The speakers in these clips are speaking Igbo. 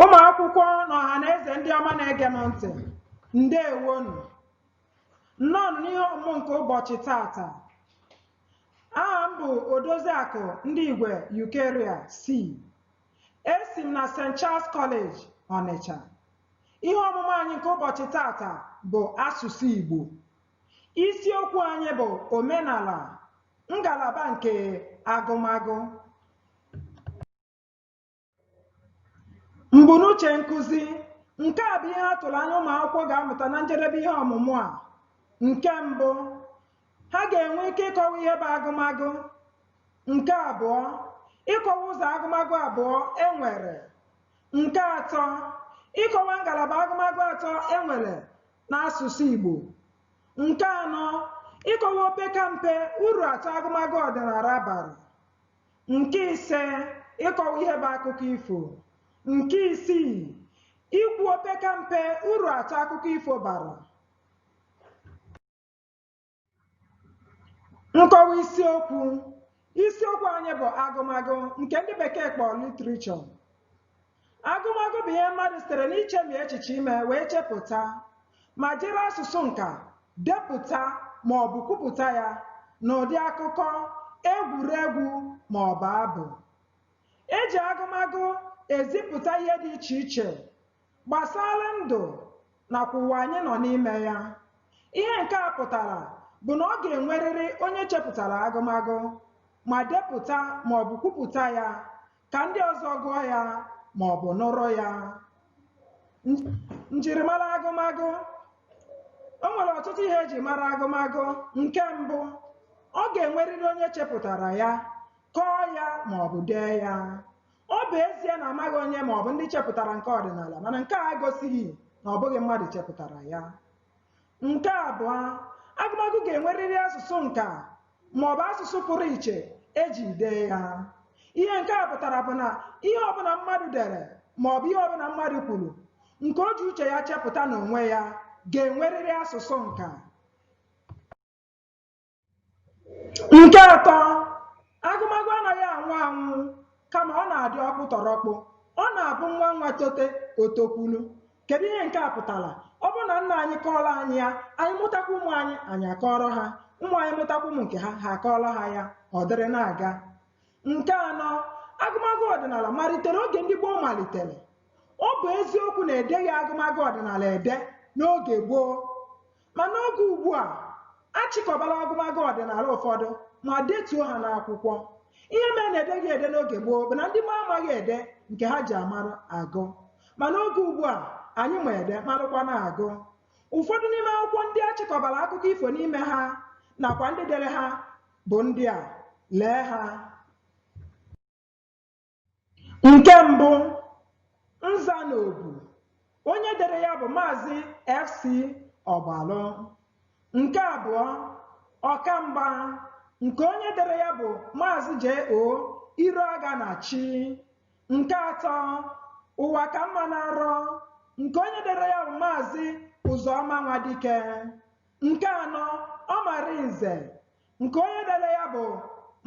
ụmụ akwụkwọ na ọha na eze ndị ọma na-ege m ntị ndewonu nnọọ n'ihe ọmụmụ nke ụbọchị tata aha m bụ odoziakụ ndigwe eucharia c esi m na st charles college ọnịcha ihe ọmụmụ anyị nke ụbọchị tata bụ asụsụ igbo isiokwu anyị bụ omenala ngalaba nke agụmagụ mbunuche nkụzi nke a bụ ihe a tụrụ anya ụmụ akwụkwọ ga-amụta na njedebe ihe ọmụmụ a nke mbụ ha ga-enwe ike ịkọwa ihe bụ agụmagụ nke abụọ ịkọwa ụzọ agụmagụ abụọ e nwere nke atọ ịkọwa ngalaba agụmagụ atọ e nwere n'asụsụ Igbo nke anọ ịkọwa opeka mpe uru atọ agụmagụ ọdịnala bara Nke ise, ịkọwa ihe bụ akụkọ ifo. Nke isii, ikwu opeka mpe uru atọ akụkọ ifo bara. Nkọwa isiokwu. Isiokwu anyị bụ agụmagụ nke ndị bekee kpọrọ literature. Agụmagụ bụ ihe mmadụ sitere n'ichemi echiche ime wee chepụta ma jiri asụsụ nka depụta ma ọ bụ kwupụta ya n'ụdị akụkọ, egwuregwu ma ọ bụ abụ. E ji agụmagụ ezipụta ihe dị iche iche gbasara ndụ nakwa ụwa anyị nọ n'ime ya. Ihe nke a pụtara bụ na ọ ga-enwerịrị onye chepụtara agụmagụ ma depụta ma ọ bụ kwupụta ya ka ndị ọzọ gụọ ya ma ọ bụ nụrụ ya njirimara agụmagụ o nwere ọtụtụ ihe e ji mara agụmagụ nke mbụ ọ ga-enwerịrị onye chepụtara ya kọọ ya ma ọ bụ dee ya ọ bụ ezie na amaghị onye ma ọ bụ ndị chepụtara nke ọdịnala mana nke a egosighị na ọ bụghị mmadụ chepụtara ya Nke abụọ, agụmagụ ga-enwerịrị asụsụ nka maọbụ asụsụ pụrụ iche e ji dee ya. Ihe nke a pụtara bụ na ihe ọbụla mmadụ dere maọbụ ihe ọbụla mmadụ kwuru nke o ji uche ya chepụta n'onwe ya ga-enwerịrị asụsụ nka. Nke atọ, agụmagụ anaghị anwụ anwụ kama ọ na-adị ọkpụtọrọkpụ. Ọ na-abụ nwa nwa tote, o tokwulu. Kedu ihe nke a pụtara? Ọ bụrụ na nna anyị kọọrọ anyị ya, anyị mụtakwa ụmụ anyị, anyị akọọrọ ha. Ụmụ anyị mụtakwa ụmụ nke ha, ha akọọrọ ha ya. Ọ dịrị na-aga. Nke anọ, agụmagụ ọdịnala malitere oge ndị gboo malitere. Ọ bụ eziokwu na edeghị agụmagụ ọdịnala ede n'oge gboo. Ma n'oge ugbu a, a chịkọbala agụmagụ ọdịnala ụfọdụ ma detuo ha n'akwụkwọ. Ihe mere na edeghị ede n'oge gboo bụ na ndị gboo amaghị ede nke ha ji amara agụ. Ma n'oge ugbu a, anyị ma ede marụkwa na-agụ. Ụfọdụ n'ime akwụkwọ ndị a chịkọbara akụkọ ifo n'ime ha nakwa ndị dere ha bụ ndị a. Lee ha. Nke mbụ, nza na obu. Onye dere ya bụ Maazị FC Ọgbalụ. Nke abụọ, ọkamgba nke onye dere ya bụ Maazị J.O. Iroaganachi. Nke atọ, ụwa ka mma na nrọ nke onye dere ya bụ Maazị Ụzọma Nwadike. Nke anọ, Ọmalinze nke onye dere ya bụ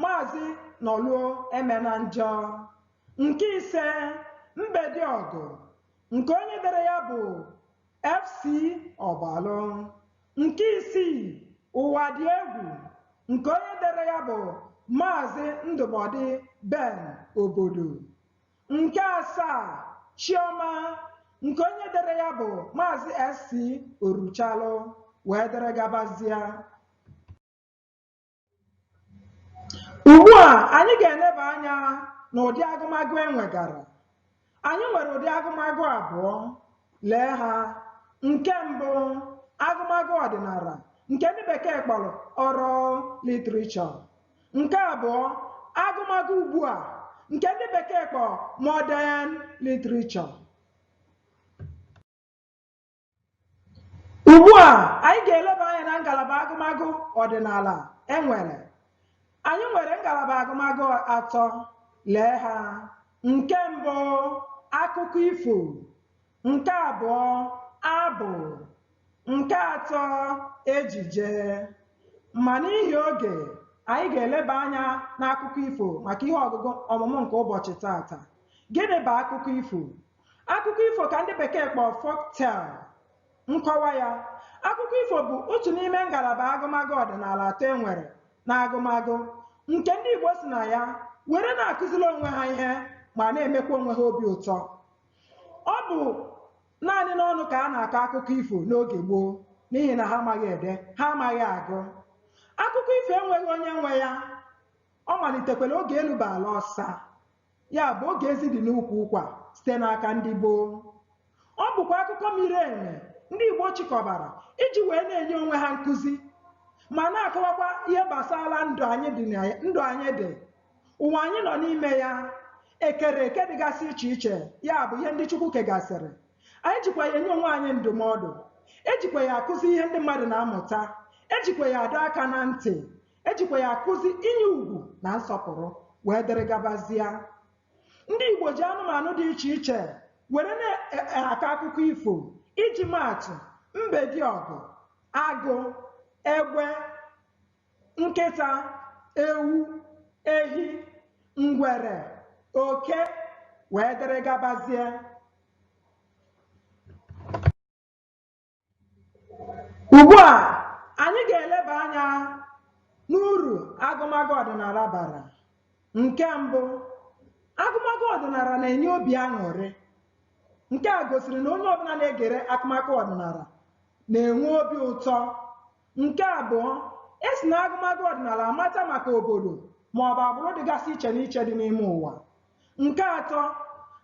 Maazị Nọlue Emenanjọ nke ise Mbediọgụ nke onye dere ya bụ FC Ọgbalụ nke isii Ụwa dị egwu nke onye dere ya bụ Maazị Ndụbọdị Ben Obodo nke asaa Chiọma nke onye dere ya bụ Maazị SC Oruchalụ wee dere gabazie Ugbu a, anyị ga-eleba anya n'ụdị agụmagụ e nwegara. Anyị nwere ụdị agụmagụ abụọ. Lee ha. Nke mbụ, agụmagụ ọdịnala nke ndị Bekee kpọrọ oral literature. Nke abụọ, agụmagụ ugbu a nke ndị Bekee kpọrọ modern literature. Ugbu a, anyị ga-eleba anya na ngalaba agụmagụ ọdịnala e nwere. Anyị nwere ngalaba agụmagụ atọ. Lee ha. Nke mbụ, akụkọ ifo. Nke abụọ, abụ. Nke atọ, ejije. Ma n'ihi oge, anyị ga-eleba anya n'akụkọ ifo maka ihe ọgụgụ ọmụmụ nke ụbọchị taata. Gịnị bụ akụkọ ifo? Akụkọ ifo ka ndị Bekee kpọọ folktale. Nkọwa ya, akụkọ ifo bụ otu n'ime ngalaba agụmagụ ọdịnala atọ e nwere n'agụmagụ nke ndị Igbo si na ya were na-akụziri onwe ha ihe ma na-emekwa onwe ha obi ụtọ. Ọ bụ naanị n'ọnụ ka a na-akọ akụkọ ifo n'oge gboo n'ihi na ha amaghị ede, ha amaghị agụ. Akụkọ ifo enweghị onye nwe ya, ọ malitekwara oge elu bụ ala ọsa. Ya bụ oge ezi dị n'ukwu ụkwa site n'aka ndị gboo. Ọ bụkwa akụkọ miri emi ndị Igbo chịkọbara iji wee na-enye onwe ha nkụzi ma na-akọwakwa ihe gbasara ndụ anyị dị, ụwa anyị nọ n'ime ya, ekere eke dịgasị iche iche, ya bụ ihe ndị Chukwu kegasịrị. Anyị jikwa ya enye onwe anyị ndụmọdụ, ejikwa ya akụzi ihe ndị mmadụ na-amụta, ejikwa ya adọ aka na ntị, ejikwa ya akụzi inye ugwu na nsọpụrụ wee dịrị gabazia ndị Igbo ji anụmanụ dị iche iche were na-akọ akụkọ ifo iji maatụ mbediọgụ agụ egbe nkịta ewu ehi ngwere oke wee dịrị gabazie Ugbu a, anyị ga-eleba anya n'uru agụmagụ ọdịnala bara. Nke mbụ, agụmagụ ọdịnala na-enye obi aṅụrị. Nke a gosiri na onye ọbụla na-egere agụmagụ ọdịnala na-enwe obi ụtọ. Nke abụọ, e si na agụmagụ ọdịnala amata maka obodo maọbụ agbụrụ dịgasị iche n'iche dị n'ime ụwa. Nke atọ,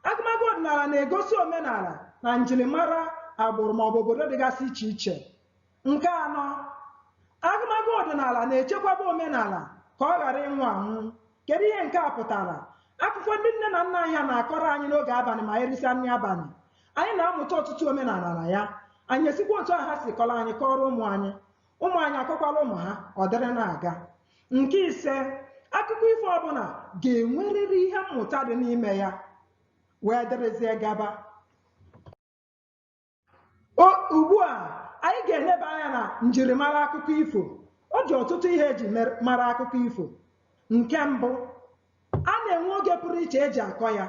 agụmagụ ọdịnala na-egosi omenala na njirimara agbụrụ maọbụ obodo dịgasị iche iche. Nke anọ, agụmagụ ọdịnala na-echekwaba omenala ka ọ ghara ịnwụ anwụ. Kedu ihe nke a pụtara? Akụkọ ndị nne na nna anyị ha na-akọrọ anyị n'oge abalị ma erisịa nri abalị, anyị na-amụta ọtụtụ omenala na ya. Anyị esikwa otu ahụ ha si kọrọ anyị kọọrọ ụmụ anyị. ụmụ anyị akọkwara ụmụ ha ọ dịrị na-aga nke ise akụkọ ifo ọbụla ga-enwerịrị ihe mmụta dị n'ime ya wee dịrịzie gaba ugbu a anyị ga-eleba anya na njirimara akụkọ ifo ọ dị ọtụtụ ihe eji mara akụkọ ifo nke mbụ a na-enwe oge pụrụ iche eji akọ ya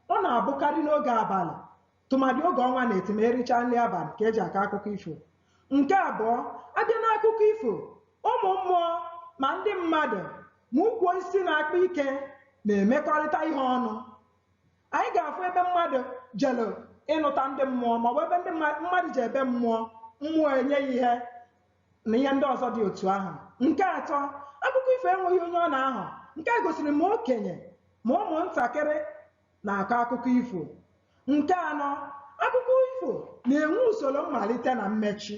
ọ na-abụkarị n'oge abalị tụmadị oge ọnwa na-eti ma ericha nri abalị ka eji akọ akụkọ ifo nke abụọ abịa n'akụkọ ifo ụmụ mmụọ ma ndị mmadụ ma ukwu osisi na-akpa ike na-emekọrịta ihe ọnụ anyị ga-afụ ebe mmadụ jere ịnụta ndị mmụọ maọbụ ebe mmadụ jee be mmụọ mmụọ enye ya ihe na ihe ndị ọzọ dị otu ahụ nke atọ akụkọ ifo enweghị onye ọ na-ahọ nke a gosiri ma okenye ma ụmụntakịrị na-akọ akụkọ ifo. Nke anọ, akụkọ ifo na-enwe usoro mmalite na mmechi.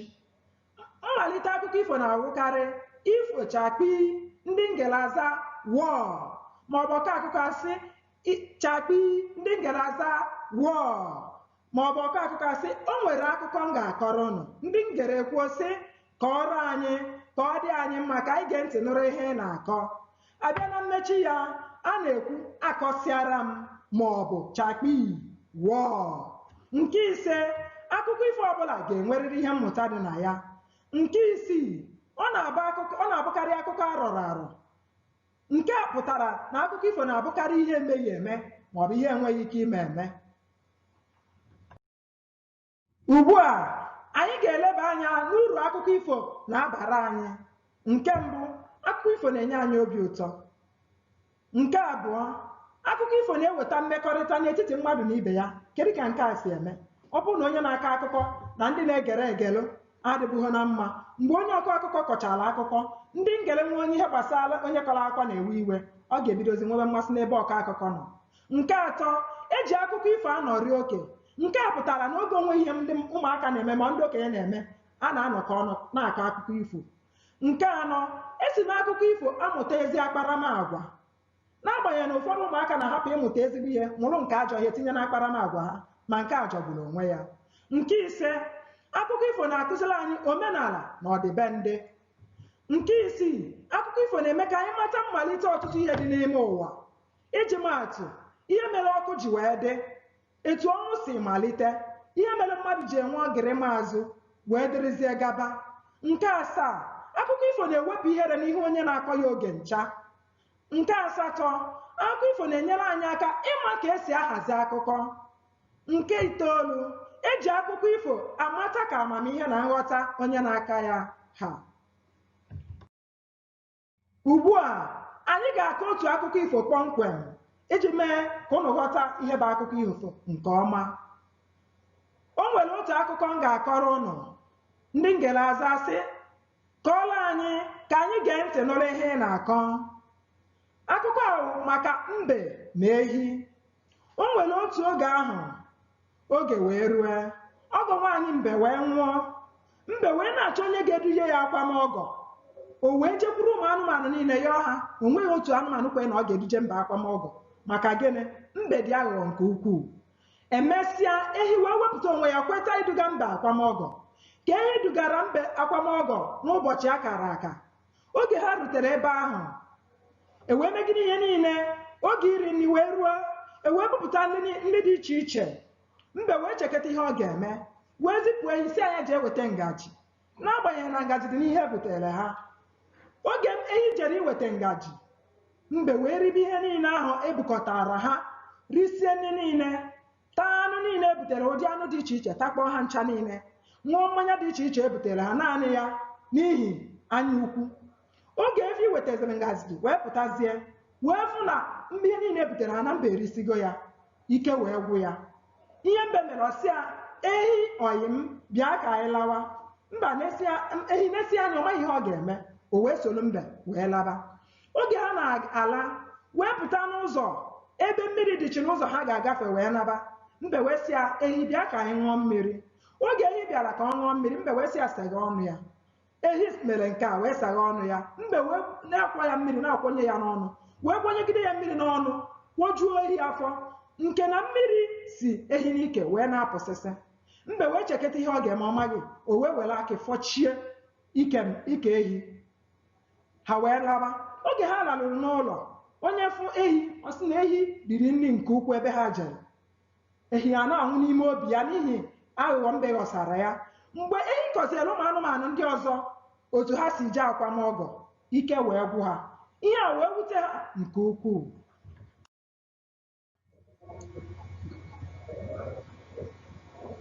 Mmalite akụkọ ifo na-awụkarị ifo chakpii ndị na-egere azaa wọọ maọbụ ọkọ akụkọ asị chakpii ndị na-egere azaa wọọ ma ọ bụ ọkọ akụkọ asị o nwere akụkọ m ga-akọrọ ụnụ ndị ngere ekwuo sị kọọrọ anyị ka ọ dị anyị mma ka anyị gee ntị nụrụ ihe ị na-akọ a bịa na mmechi ya a na-ekwu akọsịara m ma ọ bụ chakpii wọọ nke ise akụkọ ifo ọbụla ga-enwerịrị ihe mmụta dị na ya nke isii ọ na-abụkarị akụkọ a rọrọ arọ Nke a pụtara na akụkọ ifo na-abụkarị ihe emeghị eme ma ọ bụ ihe enweghị ike ime eme. Ugbu a, anyị ga-eleba anya n'uru akụkọ ifo na-abara anyị. Nke mbụ, akụkọ ifo na-enye anyị obi ụtọ. Nke abụọ, akụkọ ifo na-eweta mmekọrịta n'etiti mmadụ na ibe ya. Kedu ka nke a si eme? Ọ bụrụ na onye na-akọ akụkọ na ndị na-egere egelụ adịbughị na mma mgbe onye ọkọ akụkọ kọchara akụkọ ndị ngere nwe onye ihe gbasara onye kọrọ akụkọ na-ewe iwe ọ ga-ebidozi nwebe mmasị n'ebe ọkọ akụkọ nọ nke atọ e ji akụkọ ifo anọrị oge nke a pụtara na oge o nweghị ihe ndị ụmụaka na-eme ma ndị okenye na-eme a na-anọkọ ọnụ na-akọ akụkọ ifo nke anọ e si n'akụkọ ifo amụta ezi akparamagwa N'agbanyeghị na ụfọdụ ụmụaka na-ahapụ ịmụta ezigbo ihe mụrụ nke ajọ ihe tinye n'akparamagwa ha, ma nke a jọgburu onwe ya. Nke ise, akụkọ ifo na-akụziri anyị omenala na ọdịbendị. Nke isii, akụkọ ifo na-eme ka anyị mata mmalite ọtụtụ ihe dị n'ime ụwa. Iji maa atụ, ihe mere ọkụ ji wee dị, etu ọnwụ si malite, ihe mere mmadụ ji enwe ọgịrịma azụ, wee dịrịzie gaba. Nke asaa, akụkọ ifo na-ewepụ ihere n'ihu onye na-akọ ya oge ncha. Nke asatọ, akụkọ ifo na-enyere anyị aka ịma ka e si ahazi akụkọ. Nke itoolu, e ji akụkọ ifo amata ka amamihe na nghọta onye na-akọ ya ha. Ugbu a, anyị ga-akọ otu akụkọ ifo kpọmkwem iji mee ka ụnụ ghọta ihe bụ akụkọ ifo nke ọma. O nwere otu akụkọ m ga-akọrọ ụnụ, ndị ngere aza sị, Kọọrọ anyị ka anyị gee ntị nụrụ ihe ị na-akọ. Akụkọ a bụ maka mbe na ehi. O nwere otu oge ahụ, oge wee rue, ọgọ nwaanyị mbe wee nwụọ. Mbe wee na-achọ onye ga-eduje ya akwamọgọ. O wee jekwuru ụmụ anụmanụ niile yọọ ha. O nweghị otu anụmanụ kwere na ọ ga-eduje mbe akwamọgọ. Maka gịnị? Mbe dị aghụghọ nke ukwuu. E mesịa, ehi wee wepụta onwe ya kweta iduga mbe akwamọgọ. Ka ehi dugara mbe akwamọgọ n'ụbọchị a kara aka. Oge ha rutere ebe ahụ, e wee megide ihe niile, oge iri nri wee ruo, e wee bupụta nri ni- nri dị iche iche. Mbe wee cheketa ihe ọ ga-eme, wee zipụ ehi sị ya jee weta ngaji. n'agbanyeghị na ngaji dị n'ihe e butere ha oge ehi jere iweta ngaji mbe wee ribe ihe niile ahụ e bukọtaara ha risie nri niile taa anụ niile e butere ụdị anụ dị iche iche takpọọ ha ncha niile ṅụọ mmanya dị iche iche e butere ha naanị ya n'ihi anya ukwu oge efi wetaziri ngazi wee pụtazie wee fụ na ihe niile e butere ha na mbe erisigo ya ike wee gwụ ya ihe mbe mere ọ sị ya ehi ọyị m bịa ka anyị lawa mgbe ehi nesịa anya ọ maghị ihe ọ ga-eme o wee soro mbe wee laba oge ha na-ala wee pụta n'ụzọ ebe mmiri dịchi n'ụzọ ha ga-agafe wee naba mbe wee sị ya ehi bịa ka anyị ṅụọ mmiri oge ehi bịara ka ọ ṅụọ mmiri mbe wee sị ya saghee ọnụ ya ehi mere nke a wee saghee ọnụ ya mbe wee na-akwa ya mmiri na-akwanye ya n'ọnụ wee kwanyegide ya mmiri n'ọnụ kwajuo ehi afọ nke na mmiri si ehi n'ike wee na-apụsịsị mbe wee chekata ihe ọ ga-eme ọ maghị o wee were akị fọchie ike ike ehi ha wee laba oge ha laruru n'ụlọ onye fụ ehi ọ sị na ehi riri nri nke ukwu ebe ha jere ehi a na-anwụ n'ime obi ya n'ihi aghụghọ mbe ghọsara ya mgbe ehi kọziere ụmụ anụmanụ ndị ọzọ otu ha si jee akwam ọgọ ike wee gwụ ha ihe a wee wute ha nke ukwuu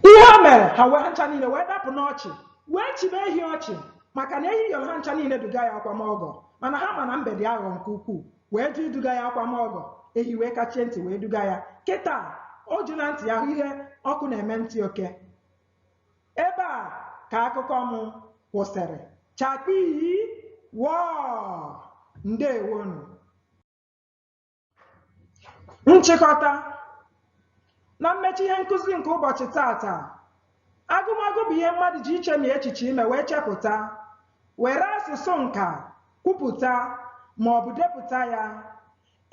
ihe o mere ha wee ha ncha niile wee dapụ n'ọchị wee chịba ehi ọchị maka na ehi yọrọ ha ncha niile duga ya akwam ọgọ mana ha ma na mbe dị aghụghọ nke ukwuu wee jụ iduga ya akwam ọgọ ehi wee kachie ntị wee duga ya kịtaa o jila ntị ya hụ ihe ọkụ na-eme ntị oke ebe a ka akụkọ m kwụsịrị chakpii wọọ ndeewonụ nchịkọta na mmechi ihe nkụzi nke ụbọchị taataa Agụmagụ bụ ihe mmadụ ji ichemi echiche ime wee chepụta, were asụsụ nka kwupụta ma ọ bụ depụta ya.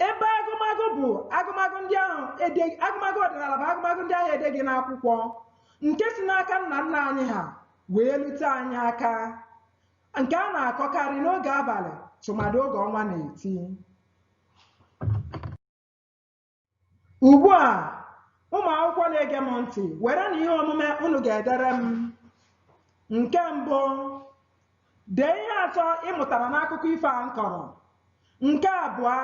Ebe agụmagụ bụ agụmagụ ndị ahụ ede- agụmagụ ọdịnala bụ agụmagụ ndị ahụ edeghị n'akwụkwọ nke si n'aka nna nna anyị ha wee lute anyị aka nke a na-akọkarị n'oge abalị tụmadị oge ọnwa na-eti. Ugbu a, ụmụ akwụkwọ na-ege m ntị, werenụ ihe omume unu ga-edere m. Nke mbụ, dee ihe atọ ị mụtara n'akụkọ ifo a m kọrọ. Nke abụọ,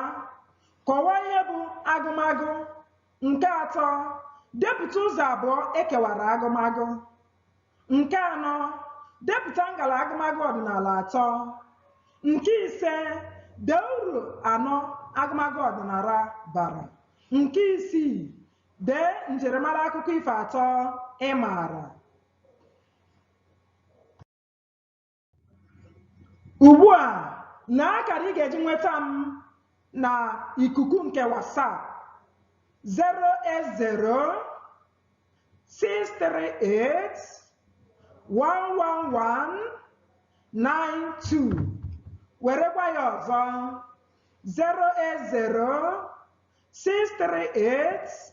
kọwaa ihe bụ agụmagụ. Nke atọ, depụta ụzọ abụọ e kewara agụmagụ. Nke anọ, depụta ngalaba agụmagụ ọdịnala atọ. Nke ise, dee uru anọ agụmagụ ọdịnala bara. Nke isii, dee njirimara akụkọ ifo atọ ị maara. Ugbu a, lee akara ị ga-eji nweta m na ikuku nke WhatsApp 08063811192 werekwa ya ọzọ 08063811192